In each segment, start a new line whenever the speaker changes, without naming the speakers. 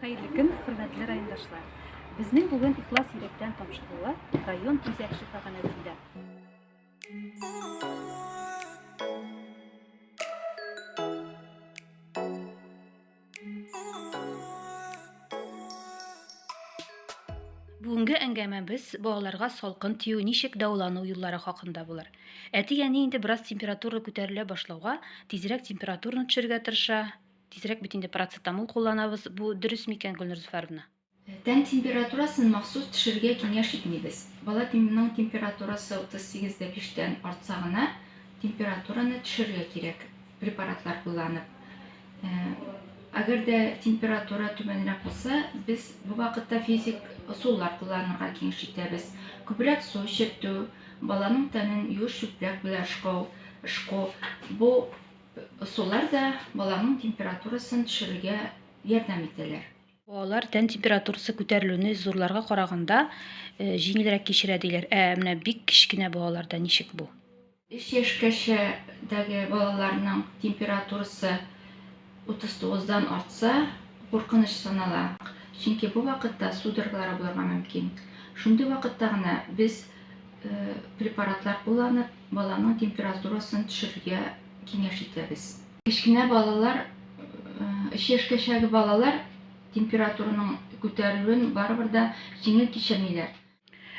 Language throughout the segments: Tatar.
Хәерле көн, хөрмәтле райондашлар. Безнең бүген ихлас йөрәктән тапшырылу район үзәк шифаханәсендә. Бүгенге әңгәмәбез балаларга салкын тию ничек дәвалану юллары хакында булыр. Әти-әни инде бераз температура күтәрелә башлауга, тизрәк температураны төшерергә тырыша, Тизрәк бит инде парацетамол кулланабыз, бу дөрес микән, Гөлнур Зөфәровна? Тән
температурасын махсус төшерергә киңәш итмибез. Бала тнның температурасы 38 дә 5 тән артса гына, температураны төшерергә кирәк, препаратлар кулланып. Әгәр дә температура түбәнрәк булса, без бу вакытта физик ысуллар кулланырга киңәш итәбез. Күбрәк су эчертү, баланың тәнен юеш чүпрәк белән ышкау, ышку, бу Ысуллар да баланың температурасын төшерергә ярдәм итәләр. Балалар тән
температурасы күтәрелүне зурларга караганда җиңелрәк кичерә диләр. Ә менә бик кечкенә балаларда ничек бу? Өч яшькәчә
дәге балаларның температурасы 39-дан артса, куркыныч санала. Чөнки бу вакытта судороглары булырга мөмкин. Шундый вакытта гына без препаратлар кулланып, Баланың температурасын төшерергә киңәш итәбез. Кечкенә балалар, 3 яшькәчәге балалар температураның күтәрелүен барыбер дә җиңел кичермиләр.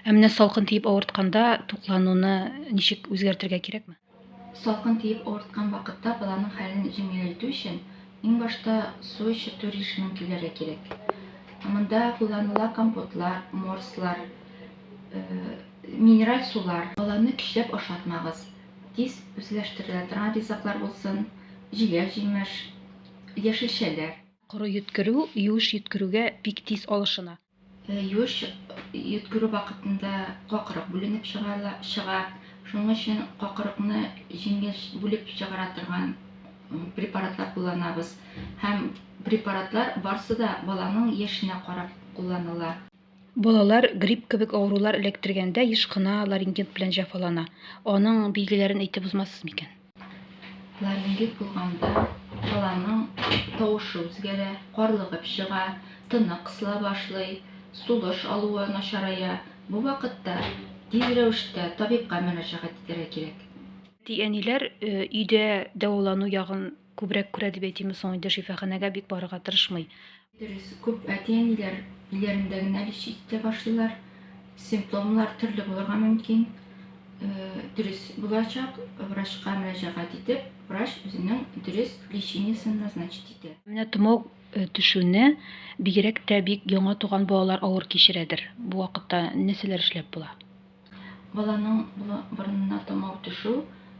Ә менә
салкын тиеп авыртканда туклануны ничек үзгәртергә кирәкме? Салкын тиеп
авырткан вакытта баланың хәлен җиңеләйтү өчен иң башта су эчертү режимын киләргә кирәк. Монда кулланыла компотлар, морслар, Минераль сулар. Баланы көчләп ашатмагыз. Тиз үзләштерелә торган ризыклар булсын, җиләк-җимеш, яшелчәләр. Коры
йөткерү юеш йөткерүгә бик тиз алышына. Юеш
йөткерү вакытында какырык бүленеп чыга, шуның өчен какырыкны җиңел бүлеп чыгара торган препаратлар кулланабыз. Һәм препаратлар барысы да баланың яшенә карап кулланыла. Балалар
грипп кебек авырулар эләктергәндә еш кына ларингит белән җәфалана. Аның билгеләрен әйтеп узмассыз микән? Ларингит
булганда баланың тавышы үзгәрә, карлыгып чыга, тыны кысыла башлый, сулыш алуы начарая. Бу вакытта тиз рәвештә табибка мөрәҗәгать итәргә кирәк. Әти-әниләр
өйдә дәвалану ягын күбрәк күрә дип әйтимме соң инде, шифаханәгә бик барырга тырышмый. Дөрес, күп
әти-әниләр өйләрендә генә лишь итә башлыйлар. Симптомнар төрле булырга мөмкин. Э, дөрес булачак, врачка мөрәҗәгать итеп, врач үзенең дөрес лечениесен назначить итә. Менә томау э,
төшүне бигрәк тә бик яңа туган балалар авыр кичерәдер. Бу вакытта нәрсәләр эшләп була? Баланың
борынына томау төшү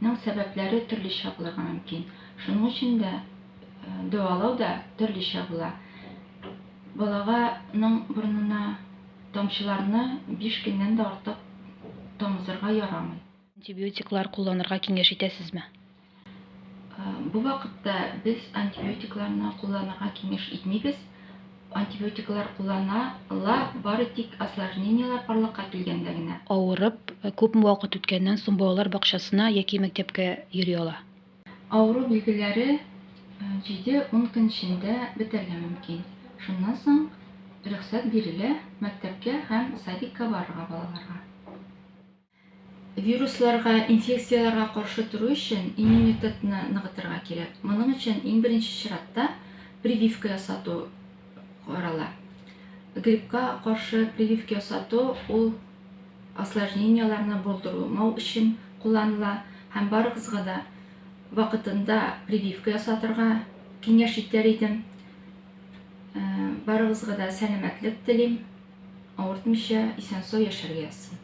нең сәбәпләре төрлечә булырга мөмкин. Шуның өчен дә дәвалау да төрлечә була. Балага ның борынына тамчыларны биш көннән дә артык тамызырга ярамый. Антибиотиклар
кулланырга киңәш итәсезме?
Бу вакытта без антибиотикларны кулланырга киңәш итмибез. Антибиотиклар кулланыла бары тик осложнениеләр барлыкка килгәндә генә. Авырып, күпме
вакыт үткәннән соң балалар бакчасына яки мәктәпкә йөри ала? Авыру
билгеләре җиде-ун көн эчендә бетәргә мөмкин. Шуннан соң рөхсәт бирелә мәктәпкә һәм садикка барырга балаларга. Вирусларга, инфекцияләргә каршы тору өчен иммунитетны ныгытырга кирәк. Моның өчен иң беренче чиратта прививка ясату карала. Гриппка каршы прививка ясату ул осложненияләрне булдырмау өчен кулланыла һәм барыгызга да вакытында прививка ясатырга киңәш итәр идем. Э, барыгызга да сәламәтлек телим, авыртмыйча исән-сау яшәргә язсын.